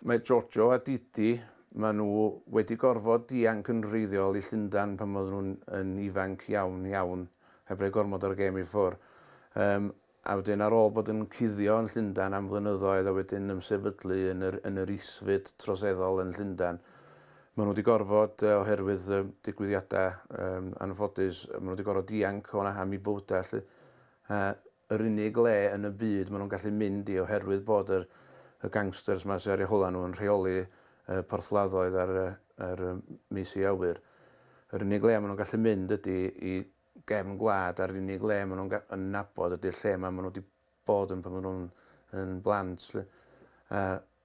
Mae Jojo a Didi, maen nhw wedi gorfod dianc yn wreiddiol i Llundain pan oedden nhw'n yn ifanc iawn, iawn, heb roi gormod o'r gêm i ffwr. Yym, a wedyn ar ôl bod yn cuddio yn Llundain am flynyddoedd a wedyn ymsefydlu yn yr, yn yr isfyd troseddol yn Llundain, maen nhw wedi gorfod, yy, oherwydd y digwyddiadau, yym, anffodus, maen nhw wedi gorfod dianc o 'na am eu bywydau 'lly. Yy, yr unig le yn y byd ma nhw'n gallu mynd i oherwydd bod yr y gangsters ma sy ar eu hola nhw yn rheoli y porthladdoedd a'r y yr y meisi awyr. Yr unig le ma nhw'n gallu mynd ydi i gefn gwlad a'r unig le ma nhw'n ga- yn nabod ydi'r lle ma ma nhw wedi bod yn pan ma nhw'n yn blant 'lly. A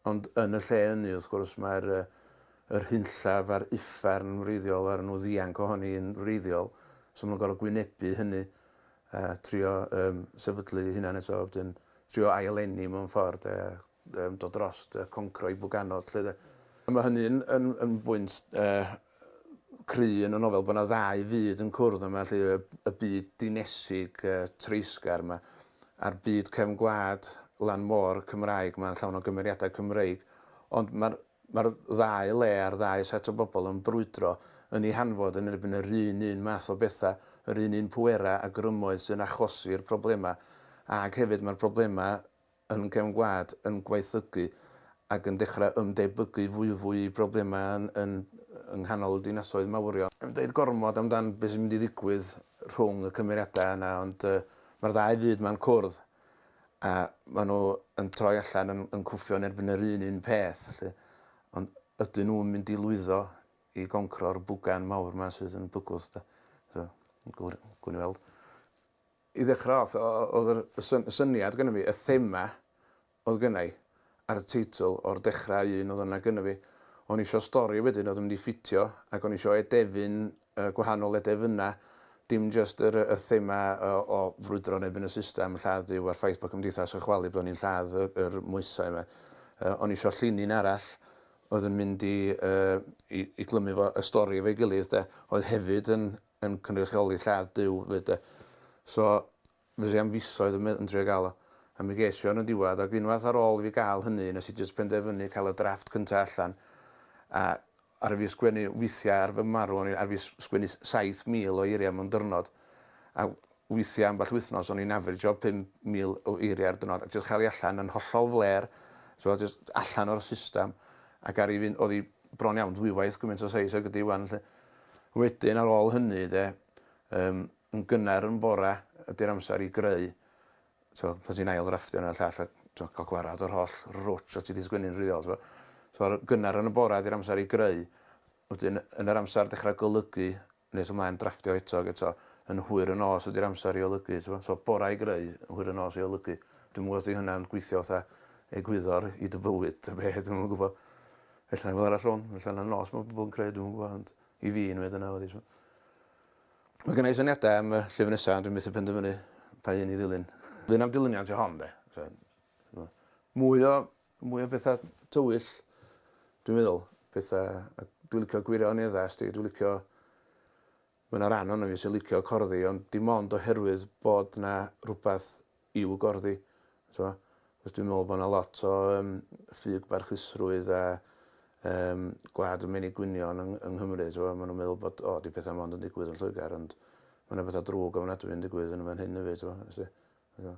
Ond yn y lle ynny, wrth gwrs, mae'r yr hunllaf a'r uffern yn wreiddiol a ry' nhw ddianc o honi yn wreiddiol, so ma' nhw'n gor'o' gwynebu hynny a trio yym sefydlu eu hunan eto a wedyn trio ail-eni mewn ffor' 'de a yym dod drost y concro i Bwganod 'lly 'de. A ma' hynny'n yn yn bwynt yy cry yn y nofel bod 'na ddau fyd yn cwrdd yma 'lly y y byd dinesig yy treisgar 'ma a'r byd cefn gwlad lan môr Cymraeg 'ma llawn o gymeriadau Cymreig ond ma'r ma'r ddau le a'r ddau set o bobl yn brwydro yn ei hanfod yn erbyn yr un un math o betha, yr un un pwera a grymoedd sy'n achosi'r problema ag hefyd ma'r problema yn cefn gwlad yn gwaethygu ac yn dechrau ymdebygu fwyfwy i broblemau yn yn yng nghanol y dinasoedd mawrion. Yn dweud gormod amdan beth sy'n mynd i ddigwydd rhwng y cymeriadau yna ond yy mae'r ddau fyd ma'n cwrdd a maen nhw yn troi allan yn yn cwffio yn erbyn yr un un peth 'lly ond ydyn nhw'n mynd i lwyddo i goncro'r bwgan mawr 'ma sydd yn bygwth de? So gwn i weld. I ddechrau off, oedd yr, y syn, y syniad gyda fi, y thema oedd gyda i, ar y teitl, o'r dechrau un oedd yna gyda fi. O'n i eisiau stori wedyn oedd yn mynd i ffitio, ac o'n i eisiau edefyn, uh, gwahanol edefynau, dim just yr, y thema o, o frwydro neu yn y system, lladd Duw a'r ffaith bod cymdeithas yn chwalu bod ni'n lladd yr, yr moesau yma. Uh, o'n i eisiau llinyn arall oedd yn mynd i, uh, i, i glymu fo y stori efo'i gilydd, de, oedd hefyd yn, yn cynrychioli lladd Duw 'fyd 'de. So, fues i am fisoedd yn me- yn trio ga'l o. A mi ges i o yn y diwadd, ag unwaith ar ôl i fi ga'l hynny, nes i jyst penderfynu ca'l y drafft cynta allan, a aru fi sgwennu withia ar fy marw, o'n i aru fi s- sgwennu s- saith mil o eiria mewn dyrnod, a withia ambell wythnos o'n i'n afrijo pum mil o eiria ar dyrnod, a jyst cha'l i allan yn hollol flêr, t'mod, jyst allan o'r systam, ac aru fi, o'dd 'i bron iawn dwywaith gymint o seis ag ydi ŵan 'lly. Wedyn ar ôl hynny de, yym yn gynnar yn bore ydy'r amser i greu, t'mo' pan ti'n ail ddrafftio hwn a'r llall a t'mo' ca'l gwarad o'r holl rwtsh o' ti 'di sgwennu'n wreiddiol t'mo'. So ar gynnar yn y bore ydy'r amser i greu, wedyn yn yr amser dechra golygu nes ymlaen drafftio eto ag eto yn hwyr y nos ydy'r amser i olygu t'mo'. So bora i greu, yn hwyr y nos i olygu. Dwi'm yn gwbo os 'di hynna'n gweithio fatha egwyddor i dy fywyd ta be' dwi'm yn gwbo. Ella na fo arall rong, ella na nos mae pobl yn credu, dwi'n gwybod, ond i fi yn wedi yna wedi. So. Mae gen i syniadau am y llyfr nesaf, ond dwi'n methu penderfynu pa un i ddilyn. Dwi'n am dilyniant i hon, de. So, mwy o, mwy o bethau tywyll, dwi'n meddwl, pethau, dwi'n licio gwirioneddau, dwi'n licio Mae 'na ran ohono fi sy'n licio corddi ond dim ond oherwydd bod 'na rwbath i'w gorddi t'mo'? Achos dwi'n me'wl bo' 'na lot o yym ffug barchusrwydd a yym gwlad y menig gwynion yng yng Nghymru t'mo' ma' nw'n meddwl bod o 'di petha mond yn digwydd yn Lloegar ond ma' 'na betha drwg ofnadwy yn digwydd yn y fan hyn efyd t'mo' wsti. T'mo'?